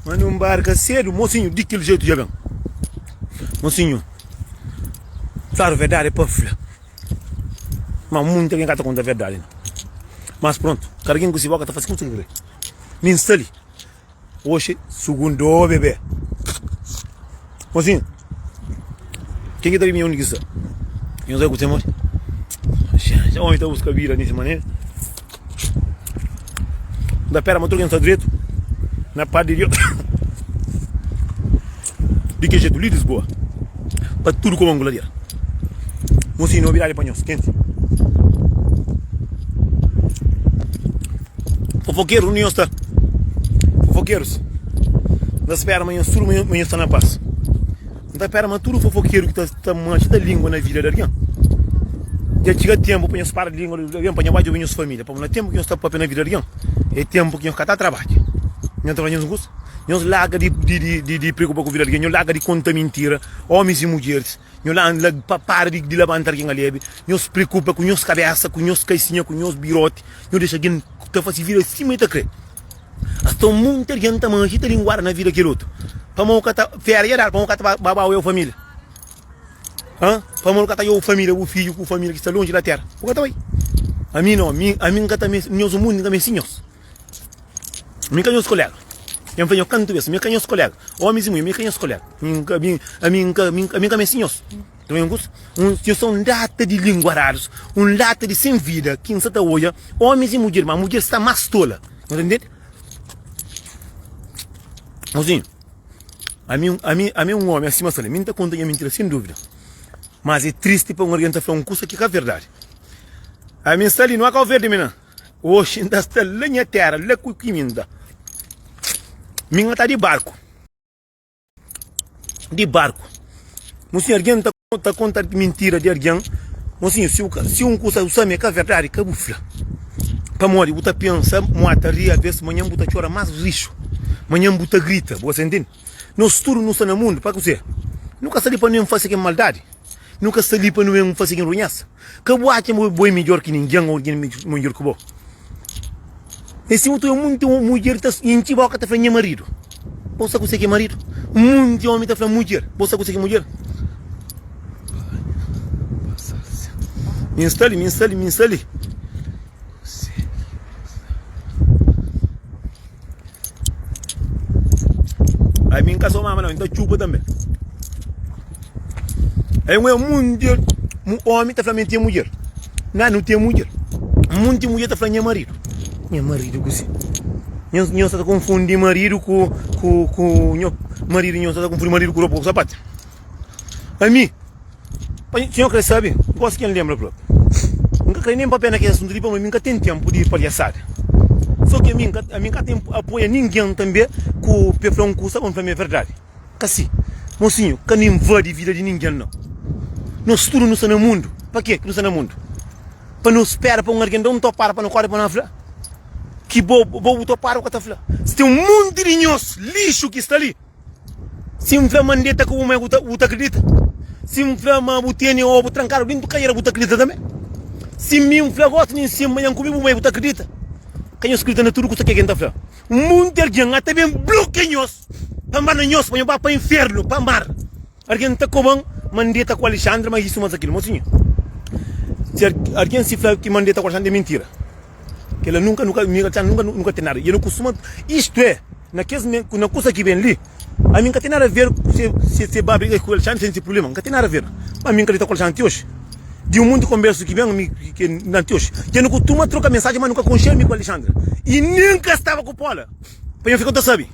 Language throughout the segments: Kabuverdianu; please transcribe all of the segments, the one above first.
Manda un barka sedu, mosinhu, di kel jetu dja ben. Mosinhu, claru, verdadi é pa fla, ma munta algen ka ta konta verdadi na. Mas prontu, kada algen ku si boka ta fase kusa ki kre. Mi N sta li, oxi, sugundu, ô bebe. Mosinhu, ken ki ta bibinha undi ki sta? Nhos bai ku temor? Xaxaxa, omi ta buska bira di si manera. N ta pera ma tudu ken sta dretu na padi di Dios. Di ki jetu, li Lisboa pa tudu kuma un gladera. Mosinhu, nobidadi pa nhos, ken si? Fofokeru undi nhos sta? Fofokerus N ta spera ma nhos tudu ma nhos sta na pas N ta spera ma tudu fofokeru ki ta majita língua na vida di algen dja txiga ténpu pa nhos para língua di algen pa nha bai djobe nhos família pabia na ténpu ki nhos sta pâpia na vida di algen é ténpu ki nhos ka ta trabadja nhos ta faze nhos kusa nhos larga di preokupa ku vida di algen nhos larga di konta mintira ómis i mudjeris. Nho la la pa para di di labanta algen ali abi nho se preokupa ku nhos kabesa ku nhos kaisinha ku nhos biroti nho dexa algen ta fase vida si ma e ta kre ason monti algen ta manji ta linguada na vida kel otu pamo ka ta fera ja dadu pamo ka ta ba ba bau eu família ha pamo ka ta eu família bu fidju ku família ki sta lonji la tera bu ka ta bai ami no ami ami n ka ta me nhos o mundu n ka meste nhos Mi ka nhos kolega. N fla nhos kantu bes, mi ka nhos kolega. Omis i munher, mi ka nhos kolega. Ami N ka meste nhos. Ta ben kusa? Nhos ta un lata di lingua rarus, un lata di sen vida ki N sa ta odja omis i mudjer, ma mudjer sta más tola. Nhos ta ntende? Mozinhu, ami, ami, ami é un omi asi mas ta fla, mi N ta konta nha mintira sen duvida. Mas é tristi pa un algen ta fla un kusa ki ka verdadi. Ami N sta li, nho a Kauverdi mi nan. Oxi N ta sta la nha tera la ku ki min da Min ka ta di barku Di barku Mo sinhu argen ta ta konta mintira di argen Mo sinhu si u ka si un kusa u same ka verdadi ka bu fla Pamodi bu ta pensa mo a ta ri abes manhan bu ta txora mas rixu manhan bu ta grita bu a sentini Nos tudu nu sta na mundu, pa kuzê? Nu ka sta li pa nu N fase ken maldadi, nu ka sta li pa nu N fase ken runhesa. Ka bu atxa ma bo é midjór ki ningen ô ningen é midjór ki bo. Nesse tempu atual, monti mudjer ta intxi bóka ta fla, Nha maridu. Bo sabe kuzê ki é maridu? Monti ómi ta fla, Mudjer. Bo sabe kuzê ki é mudjer? Mi N sta li, mi N sta li, mi N sta li. Ai mi nka so mama nau, nta txupa tanbe Ai un monti un omi ta fla mi ten mudjer Nha nu ten mudjer Un monti mudjer ta fla nha maridu Nha maridu kusi? Nhos nhos sta ta konfundi maridu ku ku ku nho maridu nhos sta ta konfundi maridu ku ropa ku sapatu Ami, pa N kre sabe, N gosi ken lenbra fla, N ka kre nen papia na kes asuntu li pamodi mi ka ten tenpu di palhasada. So ki ami, ami ka ten apoia ningen tanbe ku pe fla un kusa pa N fla ma e verdadi. Ka si. Mosinhu, ka nu invadi vida di ningen nau. Nos tudu nu sta na mundu. Pa ke ki nu sta na mundu? Pa nu spera pa un algen da un topadu pa nu kore pa nu fla ki bo, bo bu topadu ka ta fla. Si ten un monti di nhos lixu ki sta li. Si N fla ma N deta ku bu mai, bu ta kridita? Si N fla ma bu tene obu trankadu dentu kajera, bu ta kridita tanbe? Si mi N fla gosi nin sin manhan kume bu mai, bu ta kridita? Ka nhos kridita na tudu kusa ke ki N ta fla? Munti algen ata ben blokia nhos pa N ba na nhos, pa nhos ba pa infernu pa mar. Argen ta koban ma N deta ku Alexandre, ma isu mata kil. Mosinha, si argen si fla ki ma N deta ku Alexandre, é mintira. Kila nunka, nu ka, mi ku Alexandre nunka nu ka ten nada. I el nu kustuma, istu é, na kes, na kusa ki ben li, ami N ka ten nada ver ku se, se, se ba briga ku Alexandre, se N ten prubléma, N ka ten nada ver. Ma ami N ka dita ku Alexandre ti oji. Di un monti di konbérsu ki ben ami ke na ti oji, ke nu kustuma troka mensaji, ma nu ka konxia mi ku Alexandre. I nen ka staba ku Paula, pa N fika, nu ta sabe.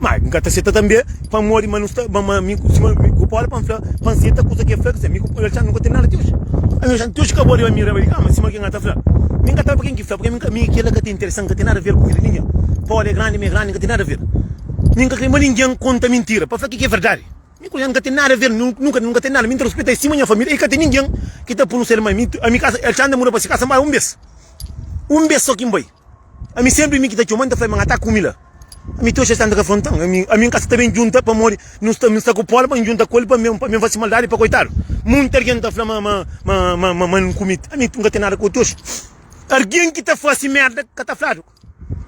Má N ka ta seta tanbê pamodi ma nu sta, ma, ma mi, sima mi ku Paulu pa N fla, pa N seta kuza ki el fla. Kizê, mi ku Paulu Alexandri nu ka ten nada ti oji. Alexandri ti oji ka bo riba mi, riba di kama, sima kikê N ka ta fla. Mi N ka ta obi ken ki fla, purkê mi ka, mi, kel-la ka ta interesa-m, ka ten nada aver ku vida di ningen. Paulu é grandi, mi é grandi, N ka ten nada aver. Mi N ka krê ma ningen konta mintira pa fla kikê é verdadi. Mi ku Alexandri nu ka ten nada aver, nu, nu ka, nu ka ten nada. Mi N ta rispita el sima nha família i ka ten ningen ki ta punu-s el mai. Mi, ami, kasa, Alexandri muda pa se kasa, N bai un bes. Un bes sô ki N bai. Ami senpri mi ki ta txoma, N ta fla-l ma N ata kume la. Ami ti oxi el sta ka fronta-m. Ami N ka sta ta ben djunta pamodi nu sta mi sta ku Pol pa N djunta ku el pa N ben fase maldadi pa koitadu. Munti algen ta fla ma N kume. Ami N ka ten nada ku el ti oxi. Algen ki ta fase merda ka ta fladu.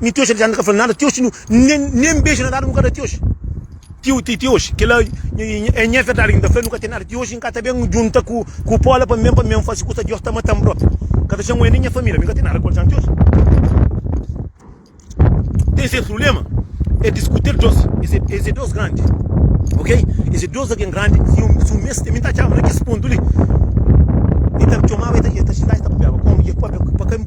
Mi ti oxi el sta ka fla-m nada ti oxi. Nen beju na dadu nu ka da ti oxi. Tio ti ti oxi kila é nha verdadi ki n ta fla-l nu ka ten nada ti oxi n ka ta ben djunta ku pola pa mi ben pa mi ben faze kusa diós ta mata-m propi n ka ta xama el nen nha família mi ka ten nada ku el dja ti oxi ten ses prubléma é diskuti-l diós es é dôs grandi ok es é dôs algen grandi si un si un mês ten mi n ta atxaba na kes pontu li el ta mi txomaba el ta xintaba el ta papiaba kómu ki é pâpia pa ka.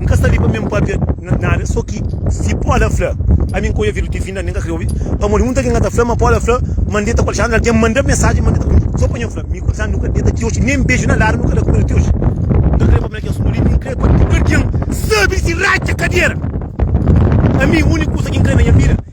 N ka sta li pa mi N pâpia nada, sô ki si Paula fla pa mi N ka odja avidu ti fin, ami N ka krê obi, pamodi un ta ken ka ta fla ma Paula fla ma N deta ku Alexandra, algen manda mensajen ma N deta ku el, sô pa nha fla mi ku Alexandra nu ka deta ti oji, nen beju na ladu nu ka da ku el ti oji. N ka krê pâpia na kes asuntu li, mi N krê pa tudu algen sabe di si ratxa kadera, ami úniku kuza ki N krê na nha vida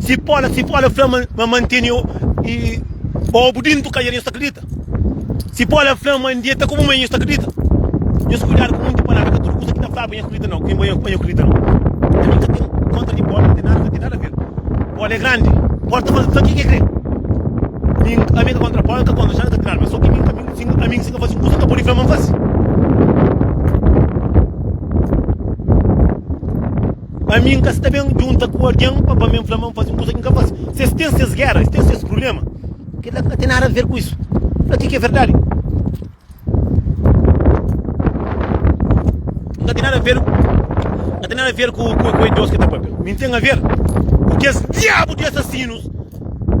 Si pola si pola fla ma manteni obu dintu ka nhos ta kridita si pola fla ma ndia ta komu ma nhos ta kridita nhos kuidadu ku munti palabra ka tudu kusa ki ta flaba nhos kridita nau nhos nhos kridita nau ami ka ten kontra di pola ten nada ten nada ver pola e grandi pola ta fazi sa ki ke kre mi ami ka kontra pola ka kontra xan ka ten nada so ki mi ami si ka fazi un kusa ka podi fla ma nfazi. Ami N ka sta ben djunta ku algen pa pa mi N fla ma N faze un kuza ki N ka faze. Si es ten ses géra, es ten ses prubléma, kel-la ka ten nada aver ku isu. Fla kel ki é verdadi. N ka ten nada aver, N ka ten nada aver ku es Deus ki é ta pâpia. Mi N ten aver ku kes diabu di asasinus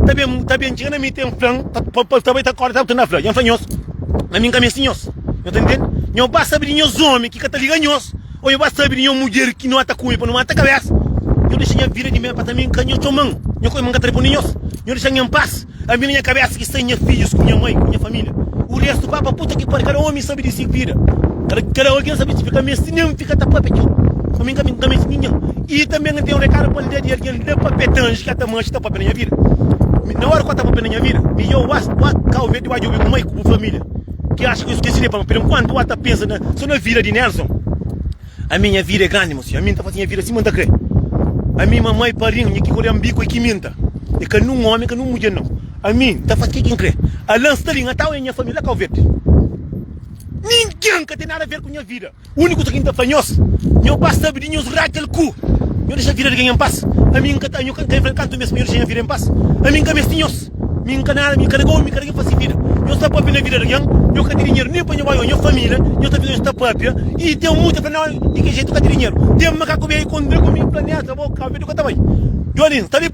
ta ben ta ben txiga na mi ten fla-m pa pa ta bai ta kóre. Sabe kuzê ki N ta fla? Ami N ka meste nhos. Nhos ta intende? Nhos ba sabe di nhos ómi ki ka ta liga nhos. Ô nhu ba sabe di nha mudjer ki nhu ata kume pa nu mata kabésa Nhu dexa nha vida di mel pa ta mi nka nha txoman Nha kóima nka ta da pa ninhos Nhu dexa-m nha npas Ami na nha kabésa ki sta nha fidjus ku nha mai ku nha família U restu pa pa puta ki pariu Kada ómi sabe di si vida Kada algen sabe di si vida Ka meste nen fika ta pâpia txeu Pa mi nka meste ninhén I tanbe nka N ten un rekadu pa N da di algen N da pâpia ta anji ki ata manji ta pâpia na nha vida Na óra ki ata pâpia na nha vida Mi dja-u bas Bua kau ve di ba djobe bu mai ku bu família. Ki acha ki yo skese de pama pero enkuantu a ta pensa na so na vida di Nelson ami nha vida é grandi mo senhor ami nta fasi nha vida sima nta kre ami mamai padrinho nha ki koria nbiku é ki mi nta é ka nun omi ka nun mudjer nau ami nta fasi ke ki nkre Alan sta li ngatau é nha famia la kau verde ninguem ka ten nada ver ku nha vida. Úniku kuza ki N ta fla nhos, Nho pas ta bdi nhos Rakel ku Nho dexa vida di genha N pas. Ami N ka ta, Nho ka infla kantu mes pa Nho dexa nha vida N pas? Ami N ka mesti nhos. Mi N ka nada, mi karega omi, mi karega infasi vida. Nhos ta pâpia na vida di algen, Nho ka ti dinheru nin pa Nho bai o Nho família, Nho ta fika nhos ta pâpia. I ten mutu ta fla, Nau, di ki jetu ka ti dinheru? Ten makaku bia i kontra ku mi planeta, bo ka obi di ku ta bai. Jolin, sta li.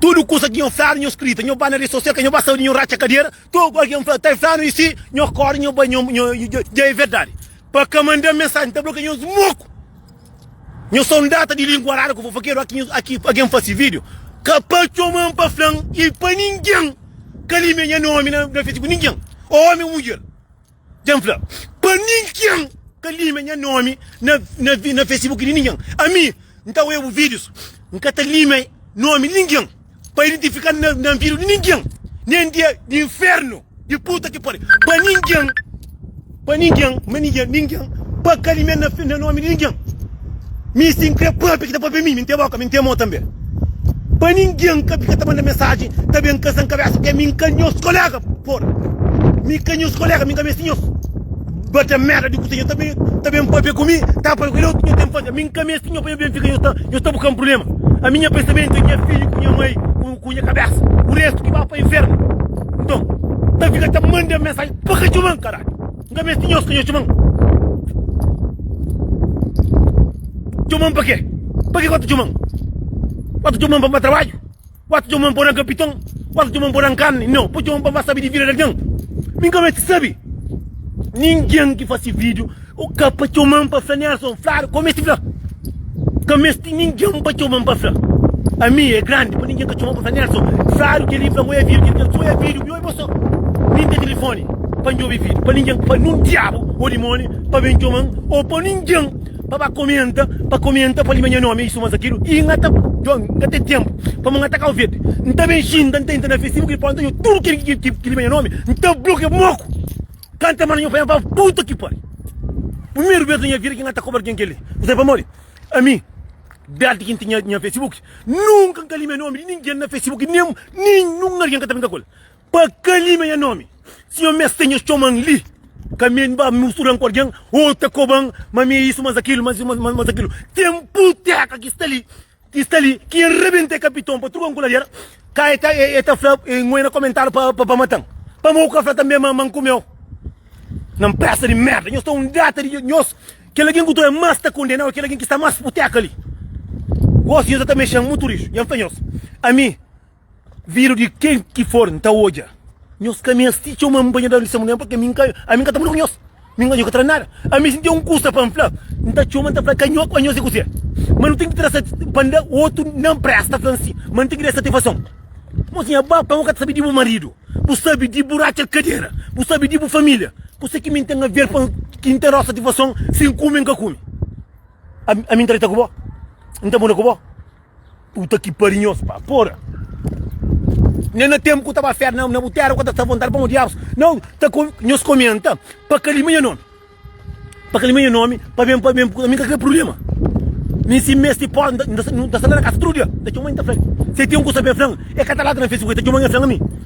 Tudu kusa ki nho flanu, nho skrita, nho ba na redi sosial ka nho ba saúdi, nho ratxa kadera, tudu algen fla ta flanu i si nho korda nho bai nho dja e verdadi pa ka manda mensaji nta blokia nhos moku nho son data di lingua rara ku fofokeru aki algen fla si video ka pa txoman pa flan i pa ningen ka limia nha nomi na facebook ningen omi o mudjer. Dja-m fla pa ningen ka límia nha nómi na Facebook di ningen. Ami, N ta oiba bu vídius, N ka ta límia nómi di ningen pa identifika-m na nvídiu di ningen, nen di inférnu di puta ki pari, pa ningen, pa ningen, ma ningen, ningen pa ka límia-m na nómi di ningen. Mi si N krê pâpia ki ta pâpia mi, mi N ten bóka, mi N ten mô tanbê Pa ningen ka fika ta manda mensajen ta ben kasa N kabésa p'k'é mi N ka nhos koléga Porra, mi ka nhos koléga, mi N ka meste nhos Ba ta merda di kuzê, nho ta ben ta ben pâpia ku mi Ta pâpia ku el, é otu ki nho ten fazê Mi N ka meste nho pa nho ben fika nhos ta nhos ta bu ka-m prubléma Ami nha pensamentu é nha fidju ku nha mai ku ku nha kabésa Ku restu ki ba pa infernu Nton, ta fika ta manda mensajen pa ka txoma-m, karalhu! N ka meste tinha osi ka nha txoman. Txoman pa ke? Pa ke ku ta txoman? Ku ta txoman pa ba trabadju? Ku ta txoman pa oran kapiton? Ku ta txoman pa oran karni? No, pa txoman pa ba sabi di vida di algen. Mi N ka meste sabi. Ningen ki fase video o ka pa txoman pa fla Nelson fladu ku meste fla. Ka meste ningen pa txoma-m pa fla Ami é grandi pa ningen ka txoma-m pa fla Nelson Sadu Kel-li N fla-m ô é vídiu Kel-li fla-m Sô é vídiu Bi oi bo sô Nin ten tilifóni pa N djobe vídiu Pa ningen Pa nun diabu ô dimóni pa ben txoma-m Ô pa ningen pa ba komenta Pa komenta pa lima nha nómi Isu más akidu i N ta Djon N ka ten ténpu pamodi N ta Kauverdi N ta ben xinta N ta intra na Facebook i N ta ponta djo Tudu kel ki lima nha nómi N ta blokia Moku. Kanta mala nha pai, nha pai fala, puta ki pari! Primeru bes na nha vida ki nha ta kobra algen kel-li. Kuzê pamodi? Ami, désdi ki N tinha nha Facebook, nunka N ka limia nómi di ningen na Facebook, nen ninhun algen ka ta pinta ku-l pa ka limia nha nómi. Si un meste nha txoma-m li, ka mi N ba mustura-m ku algen ô ta koba-m ma mi é isu, ma es é kil, ma es é isu, ma es é kil. Tenpu teka ki sta li. ki sta li ki e rebenta e kapiton pa truka-m ku ladera ka e ta e ta fla e ngoi na komentariu pa pa pa mata-m pamo ku ka fla tanbe ma ma nkumeu na npresa di merda nhos ta un data di nhos kel algen ku ta oi mas ta kondenau e kel algen ki sta mas puteka li gosi nhos e ta mexem mutu rixu nha fla nhos ami Vidu di ken ki for N ta odja nhos Ka mi es ti txeu ma N panha-l da N testemunha Pamodi ami N ka ami N ka ta muda ku nhos Mi N ka odja-u tra nada Ami si N ten un kusa pa N fla N ta txoma N ta fla ka nho pa nhos é kuzê Ma nu ten ki tra-sa pa N da otu N da-m presta fla N si ma N ten ki da-s satifason Mozinha ba pa bo ka ta sabe di bu maridu Bu sabe di bu ratxa kadera Bu sabe di bu família Kuzê ki mi N ten aver pa N ki N ta da-u satifason Si N kume N ka kume ami N ta deta ku bo N ta muda ku bo. Puta ki pari nhos pa pora Nha na tempu ku ta ba fé na na bu tera ku ta sta vontadi pamo diabus na ta ko nhos komenta pa ka lima nha nomi pa ka lima nha nomi pa ben pa ben ami ka kre prublema mi si mesti po nda nda nda sta la na kasa tudu dia nda txoma mi ta fla li se ten kusa ben flan e ka ta la tra na facebook e ta txoma mi e fla ami.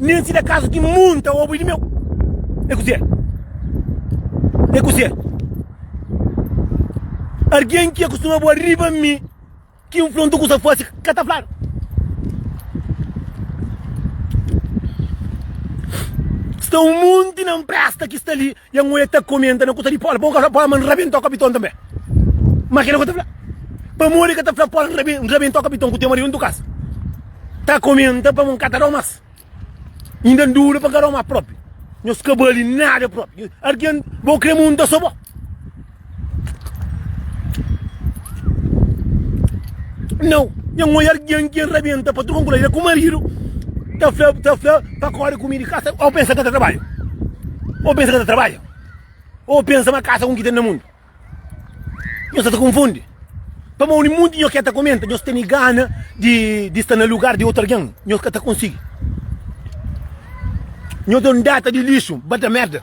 Nen si da kazu ki munta obu di meu. É kuzê? É kuzê? Argen ki akustuma bua riba mi, ki N fla-m tukusa fasi, ka ta fladu. Sta un munti na N presta ki sta li, Ya nhu e ta komenta na kuta di Paul, pa Paul ma nrabentau kapiton tanbe. Ma kila ku e ta fla. Pamodi e ka ta fla Paul nrabentau kapiton ku tema di untu kas? Ta komenta pamo nka ta dau mas. Inda nduvida pa nka dau mas propi. Nhos ka bali nada propi. Algin bo kre munta so bo. Nau, nha nhoia argian ki rabenta pa truka nkulai da ku maridu ta fla, ta fla pa kori ku mi di kasa. Au pensa ka ta trabadja? Au pensa ka ta trabadja? Au pensa ma kasa un ki ten na mundu? Nho sa ta konfundi. Pamau ni munti nho ke ta komenta, nho tene gana di di sta na lugar di otu argen, nho ka ta konsigi. Nho ta un data di lixu, bata merda.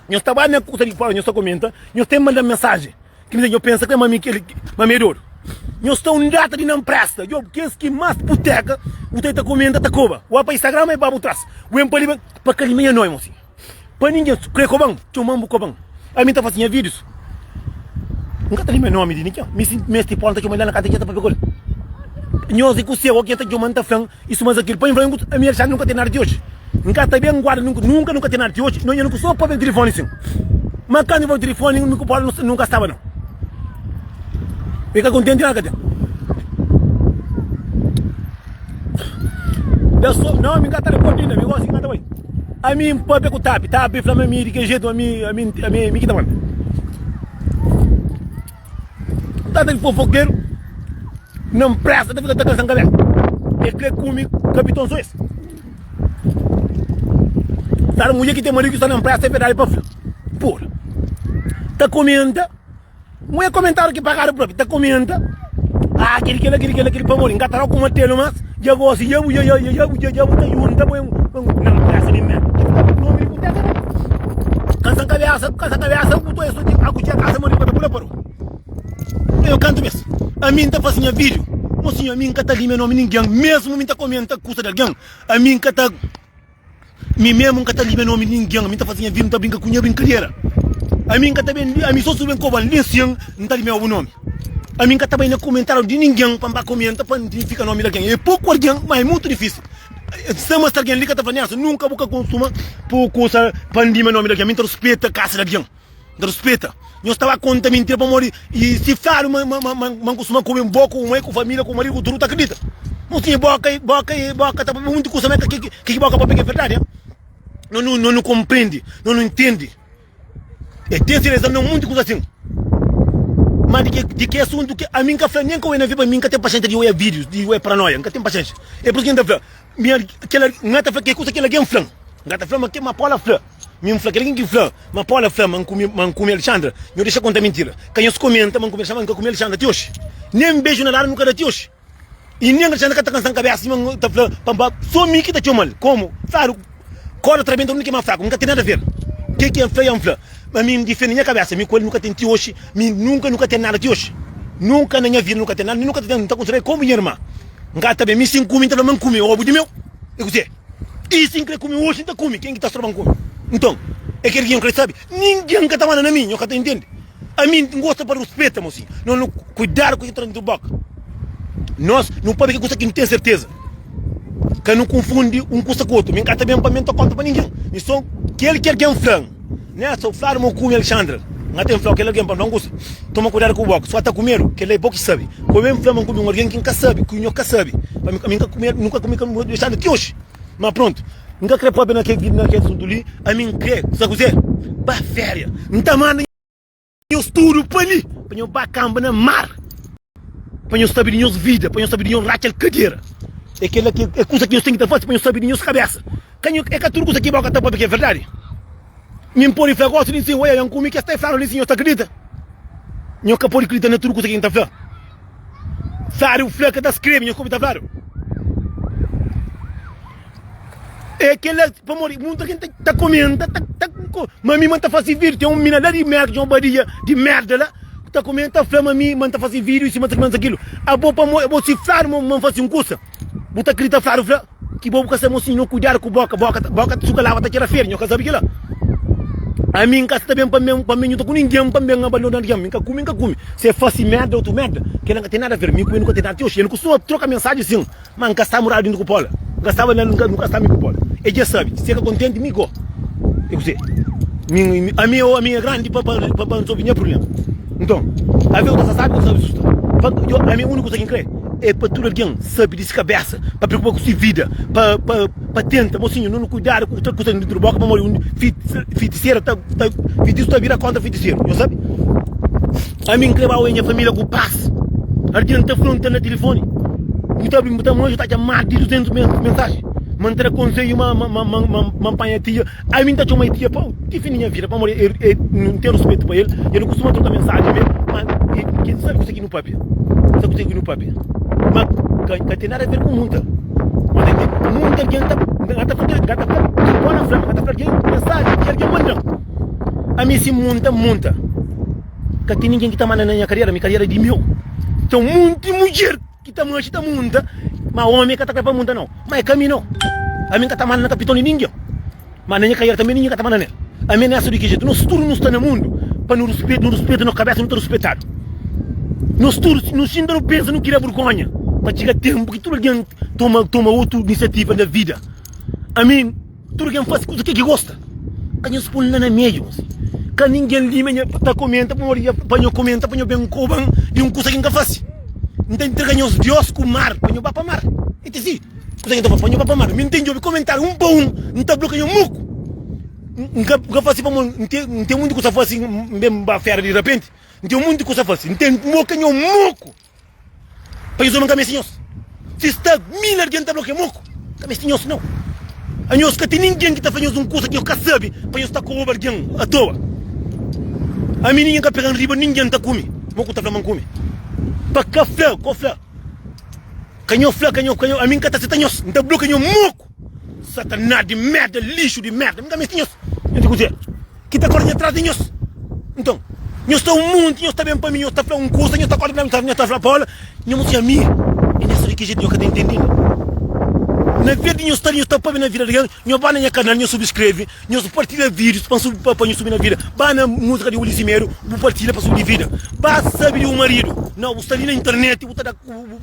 Nhos ta ba na kuta di fora, nhos ta komenta, nhos ten manda mensaji. Kil nhos pensa kila ma mi ki ma mi é dodu. Nhos ta un data di na mpresta. Djob kes ki mas puteka bu ta ta komenta ta koba. Wa pa Instagram ma e ba bu tras. Wen pa li ben pa ka li ma nha noi mo si. Pa ningen kre koban, txoman bu koban. Ami ta fasi nha vidius. N ka ta li me nomi di ningen. Mi si mesti pon ta txoman la na kanta keta pa pekol. Nhos di ku se o ken ta txoman ta flan I suma Zaqueu, pa N fla-u, ami i el xa nu ka ten nada ti oji. N ka ta ben guarda, nunka nu ka ten nada ti oji. Nhonha nu ku so pabia di tilifoni sin. Ma kantu i fla-u tilifoni, mi ku Paula nu ka staba, no. I ka kontenti nada ka ten. Da so, no, mi ka ta reporta inda, mi gosi ki N ka ta bai. Ami N pabia ku Tapi. Tapi fla-m ami di ke jetu, ami, ami, ami, ami ki ta manda. Tata di fofokeru na npresa ta fika ta kasa nkalé é kre kume kapiton so es tata mudjer ki ten maridu ki sta na npresa é verdadi pa fla por ta komenta nhu é komentariu ki pagadu propi ta komenta ah kili kila kili kila kili pamodi nka ta rau kuma telu mas. Dja gosi ya bu ya ya ya bu ya ya bu ta junta poi un na presa di mel ki fika ku nomi di ku teka ne kansa kabesa ku kansa kabesa ku toi soti aku txia kasa modi ku ta pula parodi tenho kantu bes ami ta fasi nha video mo sinhor ami ka ta li me nomi ningen mesmu mi ta komenta kusa di algen ami ka ta. Mi mesmo nka ta liga nomi di ningen, mi nta fazi nha vida, nta brinka ku nha brinkadera. Ami nka ta ben li, ami so su ben koba li nsin, nta li meba bu nomi. Ami nka ta bai na komentariu di ningen pa nba komenta pa nidifika nomi di algen. E poku algen, ma e mutu difisil. Nsa ma si algen li ka ta fla nesa, nunka bu ka konsuma poku osa pa nlima nomi di algen. Mi nta ruspeta kasa di algen. N ta ruspeta. Nhos ta ba konta mintira pamodi i sifradu ma N kustuma kume bo, ku bu mai, ku família, ku bu maridu, ku tudu. Bu ta kridita? Nhos tinha boka i boka i boka ta pâpia pa monti kusa. Má ki ki boka pâpia ki é verdadi? Ha? Nhos nu nhos nu konprende, nhos nu ntende. E ten sereza ma monti kusa asin. Má di ke di ke asuntu ki ami N ka fla nen ka oja na. Pa mi N ka ten paxénxa di oja vídius, di oja paranóia. N ka ten paxénxa. É pur isu ki N ta fla. Minha, aquela, nga ta fla que coisa aquele alguém flan. Nga ta flan, mas que Mapola flan. Min fla, aquele alguém que flan, Mapola flan, man come, man come Alexandra, nho deixa conta mentira. Ka nhos comenta, man come Alexandra, nunca come Alexandra ti hoje. Nem beijo na lala nunca da ti hoje. E nem Alexandra ka ta cansa cabeça, assim, man ta flan, pamba, só mi ki ta txomal. Como? Claro. Koda ta rabenta, un ki é más fraku nu ka ten nada ver. Ke ki N fla ya N fla, ma mi N difende nha kabésa, mi ku el nu ka ten ti oxi, mi nunka nu ka ten nada ti oxi. Nunka na nha vida nu ka ten nada, nin nu ka ta ten, N ta konsidera el komu nha irman. N ka ta ben, mi si N kume, N ta fla ma N kume, obu di meu. I kuzê? I si N krê kume oxi, N ta kume, ken ki ta stroba-m kume? Nton, é kel ki nha N krê sabe, ningen ka ta manda na mi, nho ka ta intende. Ami N gosta pa ruspeta mo sin Nos nu kuidadu ku ke ki tra dintru boka Nos nu pâpia ke kusa ki N ten serteza Ka nu kunfundi un kusa ku otu Mi N ka ta ben pa mi N ta konta pa ningin Mi so kel ki algen fla-m Nhas so fladu mo kume Alexandra N ka ta ben fla-u kel algen pa N fla-u un kusa Toma kuidadu ku boka Sua ta ku medu Kel-la é bo ki sabe Ku ben fla ma N kume un algen ki N ka sabe Ki nho ka sabe Ami N ka kume el Nu ka kume kel Alexandra ti oxi. Má prontu, N ka krê pâpia na kes na kes asuntu li. Ami N krê, sa kuzê? Ba féria. N ta manda nhos tudu pa li, pa nhos ba kanba na mar, pa nhos sabe di nhos vida, pa nhos sabe di nhos ratxa-l kadera. É kel-la ki é kuza ki nhos ten ki ta fase pa nhos sabe di nhos kabésa. Ka nho, é ka tudu kuza ki bo ka ta pâpia ki é verdadi. Mi N pode fla gosi di Nsin, oiaia N kume kes ta flanu di Nsin, nhos ta kridita? Nhos ka pode kridita na tudu kusa ki N ta fla. Fladu, fla ka ta skrebe, nhos kobe ta fladu. E kila, pamodi munta ki N ta ta komenta, ta ta ko, ma mi ma N ta fasi vidiu. Ten un mina la di Merka, un badia di merda la, ku ta komenta, ta fla ma mi ma N ta fasi vidiu i sima es aki ma es akilo. Abo pamo, abo si fladu ma ma N fasi un kusa, bu ta kridita fladu fla? Ki bo bu ka sabe mosinho kudiadu ku boka boka su ka laba ta txera feri nho ka sabe kila ami nka sta ben pa mi pa mi nhu ta ku ningen pa mi ben abandona algen mi nka kumi nka kumi si e fasi merda otu merda kila nka ten nada aver mi ku e nu ka ten nada ti oxi e nu kustuma troka mensaji sin ma nka sta muradu dintu ku pola nka staba na nka nu ka sta mi ku pola e dja sabe si e ka kontenti mi go e kuzê mi ami e omi e grandi pa pa pa pa nsobi nha prublema nton ave u ta sa sabe u ta sabe susta pa ami uniku sa ki nkrê. É pa tudu algen sabe di si kabésa, pa preokupa ku si vida, pa tenta. Mosinhu, nu kuidadu ku kusa ki nu tira boka, pamodi un fitisera ta. Fitisu ta bira kontra fitiseru, nhos sabe. Ami N kreba oja nha familia ku pas. Algen ta fla-m, N sta na tilifoni, bu ta bri, bu ta manju, ta atxa más di 200 mensaji. Ma N ta da konsedju ma N panha tia. Ami nta txoma dia pau difindi nha vida pamodi e e nu ten ruspetu pa el e nu kustuma troka mensaji me ma e ke sabi kusa ki nu papia sabi kusa ki nu papia ma ka ka ten nada aver ku munta nu ta entende munta algen ta nga ta fla nga ta fla ki bo na fla nga ta fla algen mensaji ki algen mandan ami si munta munta ka ten ningen ki ta manda na nha kariera mi kariera di meu ten munti mudjer. ki ta manxi ta munta ma omi ka ta kre pa munta nau ma e ka mi nau ami n ka ta manda na kapiton di ningin ma na nha kariera tanbe ningin ka ta manda na el ami n esa di ki jetu nos tudu nu sta na mundu pa nu ruspetu nu ruspetu nos kabesa nu ta ruspetadu nos tudu si nu xinta nu pensa nu kria burgonha pa txiga tenpu ki tudu algin toma toma otu inisiativa na vida ami. Tudu ken fasi kuza ke ki gosta ka nhos pul la na mediu mosi ka ningin li ma nha ta komenta pamodi nha pa nho komenta pa nho ben koban di un kuza ki nka fasi n ta intriga nhos dios ku mar pa nho ba pa mar e ti si kuza ki nta fasi pa nho ba pa mar mi nten djobi komentariu un pa un n ta blokia nho muku n ka nka fasi pamodi n ten n ten munti kuza fasi n ben ba fera di rapenti n ten munti kuza fasi n ten blokia nho muku. Pa nhos, nu ka meste nhos. Si sta mil algen ta blokia mon ku, nu ka meste nhos nau. Anhos ka ten ningen ki ta fla nhos un kusa ki nhos ka sabe pa nhos sta koroba algen atoa. Ami ningen ka pega-m riba ningen ta kume mon ku ta fla ma N kume. Pa ka fla, ko fla, ka nho fla, ka nho, ami N ka ta seta nhos, N ta blokia nho mon ku. Satanás di merda, lixo di merda, nunca meste nhos. Ente kuzê? Ki ta korda atrás di nhos? Nton, nhos ta um monti, nhos ta ben pa mi, nhos ta fla um kusa, nhos ta korda atrás di mi, nhos ta fla Paula, nhos mostra nhos ami. E nhos fla di ki jeito nhos ka ta intendi inda? Na vez di nhos sta li, nhos ta pâpia na vida di algen, nhos ba na nha kanal, nhos subskreve, nhos partilha vídios pa nhu pa nhu subi na vida. Ba na múzika di Ulisses Medo, bu partilha pa subi di vida. Ba sabi di bu marido. Nau, bu sta li na internet, bu ta da.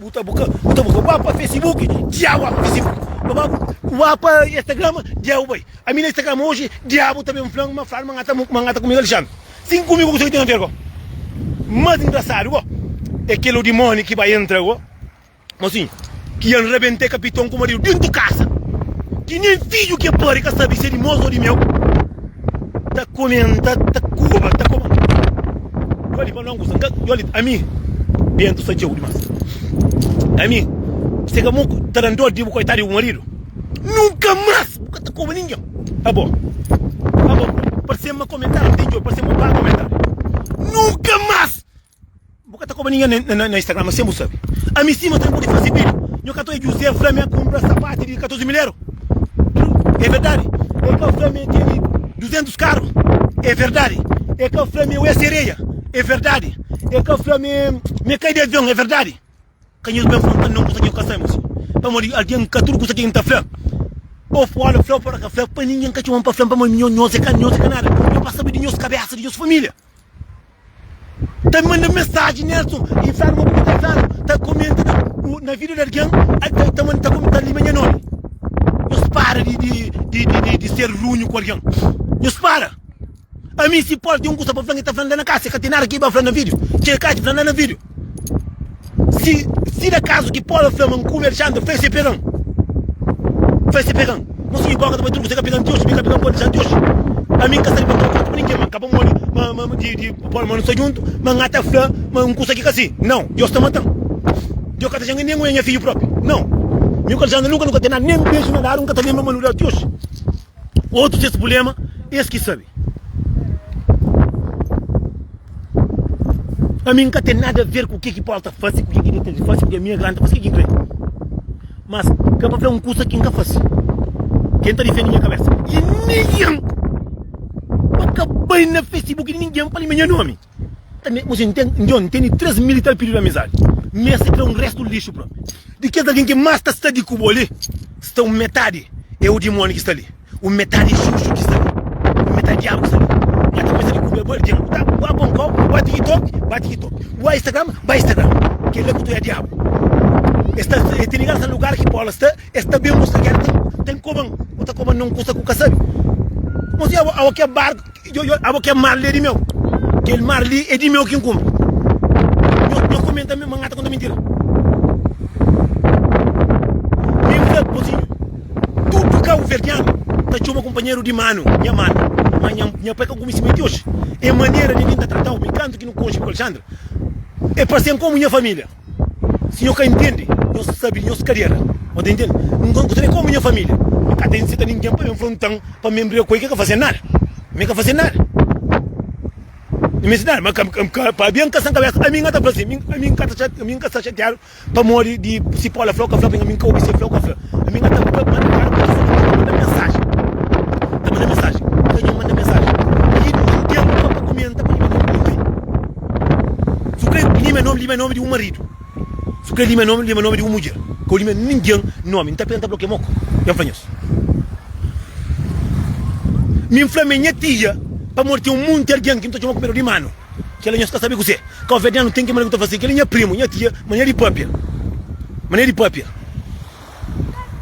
Bu ta bu ka bu ta bu ka ua pa fesibuki dia ua pa fesibuki pa ba ua pa estagrama dia u bai ami na estagrama oji dia bu ta ben flan ma flan ma nga ta ma nga ta ku mi alexandri sin ku mi ku kuzê ki ten aver go mas ingrasadu go é kel odimoni ki bai entra go mo sin ki ian rabentê kapiton ku maridu dentu kasa ki nen fiju ke pari ka sabi se di mos o di meu. Ta komenta ta koba ta koba Yo li pa longus n ka yo li ami bentu sta djeu dimas ami se ka bu ta dan dor di bu koitadu di bu maridu nunka mas bu ka ta koba ningen abo abo parsema komentariu di djeu parsema un ba komentariu nunka mas Bu ka ta koba ninguém na, na, na Instagram, mas sem bu sabe. A mim sim, mas também pode fazer vídeo. Nho catou é José, Flamengo, comprar sapato de 14 mil euro. É verdade. É que o Flamengo tem 200 carros. É verdade. É que o Flamengo é sereia. É verdade. É que o Flamengo me cai de avião. É verdade. ka nhos ben fla-m tandon kusa ki nhos ka sabe mos. Pamodi algen ka tudu kusa ki N ta fla, ô fla-l fla ô para ka fla, pa ningen ka txoma-m pa fla-m, pamodi nho, nhos é ka, nhos é ka nada. É pa sabe di nhos kabésa, di nhos família. Ta N manda mensaji Nelson i fla-l ma bu ka ta fla-nu, ta komenta na, na vida di algen, ta, ta manda, ta komenta, ta lima nha nomi. Nhos para di, di, di, di, di ser runhu ku algen. Nhos para! Ami si Paul ten un kusa pa fla-m, el ta fla-m la na kasa, el ka ten nada ki el ba fla-m na video. Txeu ka dja fla-m la na video. Si, si na kazu ki Paul fla ma N kume Alexandre, fla-l si el pega-m. Fla-l si el pega-m. Mon sinhu Paul ka ta bai truku si el ka pega-m ti oji, mi ka pega-m Paul dja ti oji. Ami N ka sta di pâpia un kusa pa ningen, ma N ka ba modi ma, ma, di, di Paul ma nu sta djuntu, ma N ata fla ma un kusa ki ka sin. Nau. Deus ta mata-m. Deus ka ta janga nen un, é nha fidju propi. Nau. Mi ku Alexandre nunka nu ka ten nada, nen beju na dadu N ka ta lenbra ma nu da-l ti oji. Otu ses pulema es ki sabe. Ami nka ten nada ver ku ke ki Paul ta fase, ku ke ki Detlef ta fase, ku ke ki Mia Grant ta fase, ke ki nkrê. Mas ka pa fla un kusa ki nka fase. Ke nta difende nha kabesa. I ningen pa ka bai na Facebook di ningen fale ma nha nomi. Oji njo N tene três mil i tal pididu amizadi, ma es é kre un restu lixu pra mi. Di kes algen ki más ta sta di ku bo li, sta un metadi é un dimóni ki sta li, un metadi é xuxu ki sta li, un metadi diabu ki sta li. Má ta kumesa di kuda bu algen ku ta ba pon kau, ba tikitoki, ba tikitoki, ba instagram, ba instagram. Kel-la ki ta oja diabu. Es ta sta, es tene graxa lugar ki bóla sta, es ta ben buska kel ki ten koba-m. Bu ta koba-m na un kusa ki bu ka sabe. Mos oja bo, awa ki é barku. Abo kel mar li é di meu. Kel mar li é di meu ki N kunpri. Nho komenta ma N ka ta konta mintira. Mi N fla bozinhu, tudu kabuverdianu ta txoma kunpanheru di manu, nha manu. Má nha pai ka kumisi ma é di oji. É manera di el ta trata-u. Mi kantu ki nu konxe ku Alexandra, el parse-m komu nha família. Si nho ka intendi, nho sabi nhos kadera. Bo ta intendi? N ka ta ben komu nha familia. N ka ta inseta ningen pa ben fronta-m pa mi briga ku el. Ki el ka fase-m nada. Mi ka fase-l nada. N meste nada. Ma pabia N ka sta N kabesa, ami N ka ta fla asin, ami N ka sta xatiadu pamodi di si Paula fla o ka fla, pabia ami N ka obi si el fla o ka fla. Ami nha ta ba manda claro pa Jesus nunka manda mensaji ta manda mensaji nunka nha manda mensaji i di un tempu ka pa kumenta pa nha manda ninhun nome su kre lima nome lima nome di un maridu su kre lima nome lima nome di un mudjer ka lima ninhun nome nta penta bloke moko nha fla nhos mi nfla mi nha tia pamodi ten un munti algin ki nta txoma ku medu di manu. Kela nhos ka sabe kuzê? Kau Verdiano ten ki maneira ku ta fazê. Kela é nha primu, nha tia, maneira di pâpia. Maneira di pâpia.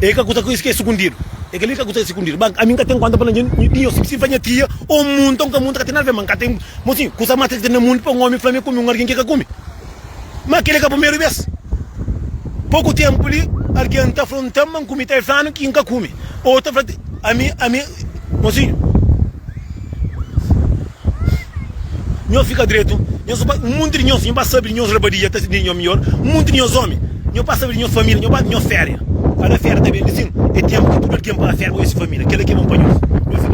É ka kuza ki é sukundidu. É kel-li ka kuza ki é sukundidu. Ba, ami N ka ten kónta pa ningin di nhos. Si N fla nha tia, Ô munta, N ka munta, ka ten nada a fazê. Ma N ka ten. Mo sin, kuza más três ki ten na mundu pa un ómi fla-m, E kume un algen ki el ka kume? Má kel-li ka primeru bês. Poku ténpu li, algen ta fronta-m ma N kume tel fla-nu ki N ka kume. Otu ta fla ami, ami, Mozinhu, nho fika dretu, nho sa pa, un monti di nhos, nho ba sabe di nhos rabadia ta sindi nho midjór, un monti di nhos ómi, nho ba sabe di nhos família, nho ba, nho féria. Kada féria ta ben di sin, é ténpu ki tudu algen ba féria pa odja se família. Kel-la ki é bon pa nhos. Nho fika dretu.